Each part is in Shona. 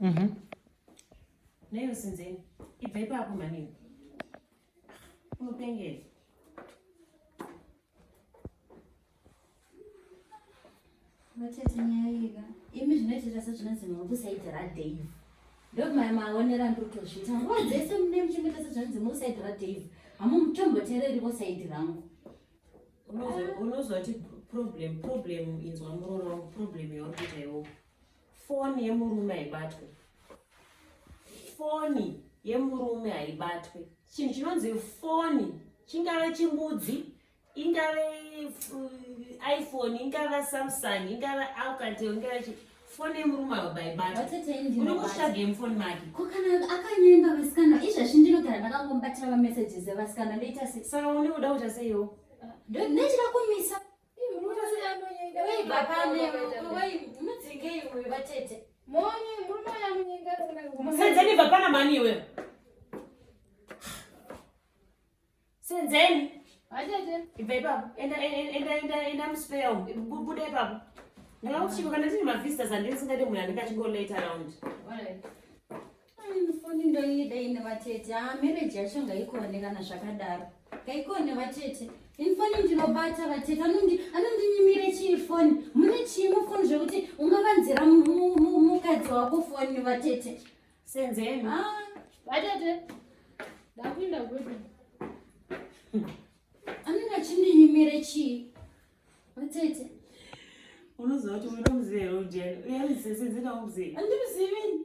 Mhm. Nayo sinzeni. Ibva ipapo mhani. Unopengera. Matete nyaya yega. Imi zvinoitira sezvinonzi mukusaidira Dave. Ndokumaya maonera ndotozviita. Nguva dzese mune muchimboita sezvinonzi mukusaidira Dave. Hamutomboteereri vosaidi rangu. Unozo- Unozoti problem, problem inzwa muroora wangu, problem yauri kuita iwowo. foni yemurume haibatwe foni yemurume haibatwe chinhu chinonzi foni chingave chimbudzi ingave uh, iphone ingava samsung ingava alcatel ingava chi foni yemurume haibatweuri kutsvaga yemufoni make ko kana akanyenga vasikana izvezvi ndinogara ndakangomubatira mamesages evasikana ndoita sei saka une kuda kuita seiwo ndochida kumisa Senzeni vapana mani iwe. Senzeni. Atete. Ibva ipapo. Enda enda enda enda muspare umu. Buda ipapo. Ndakakuchiko kana tiri mavisitors andisingade munhu anenge achingolate around. All right. foni ndoida ine vatete a ah, mereji yacho ngaikuonekana zvakadaro ngaikuone vatete ini foni ndinobata vatete anondinyimire chii foni mune chii mufoni zvekuti ungavanzira mukadzi wako foni vatete senzeni ah. vatete ndakuinda kwedu anenge achindinyimire chii vatete unoziva kuti unomuziva here ujeni uyarizisinzinaumuzivi andimuzivi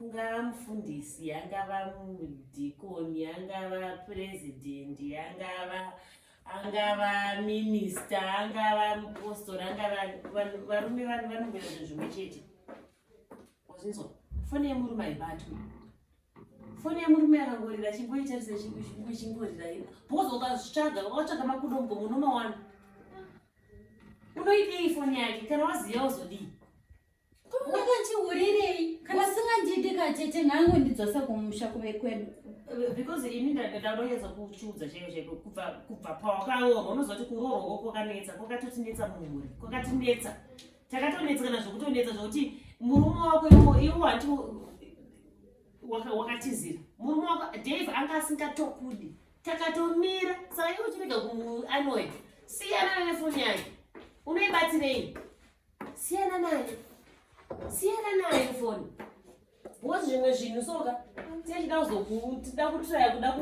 kungava mufundisi angava mudhikoni angava purezidhendi angava angava minista angava mupostori angava varume vanhu vanongoita zvinhu zvimwe chete wazvinzwa foni yemurume haibatwi foni yemurume akangorira chingoita sechingorira bhozi ukazvitsvaga wakatsvaga makudombo munomawana unoidii foni yake kana waziva uzodii Wakachihurirei? Kana singandidi katete nhangu ndidzose kumusha kuve kwedu. Because ini ndakadonedza kuchiudza chaiyo chaiko kubva kubva pawakaroorwa unozoti kuroorwa kwakanetsa kwakatotinetsa mumhuri kwakatinetsa takatonetsa kana zvokutonetsa zvokuti murume wako iwo iwo hati wakatizira murume wako Dave anga asingatokudi takatomira saka iwe uchirega kuanoya siyana nefoni yake unoibatirei Siyana nayo. Siyana nayo foni. Wozi zvimwe zvinhu soka tichida kuzokutida kutraya kuda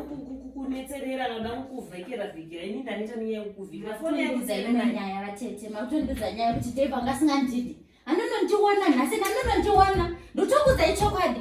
kunetserera noda kukuvhekera vhekera ini ndaneta nenyaya yekukuvhekera foni yake dzaive nanyaya vatete makutondidza nyaya kuti dave anga asingandidi anonondiona nhasi nanonondiona ndotokudzai chokwadi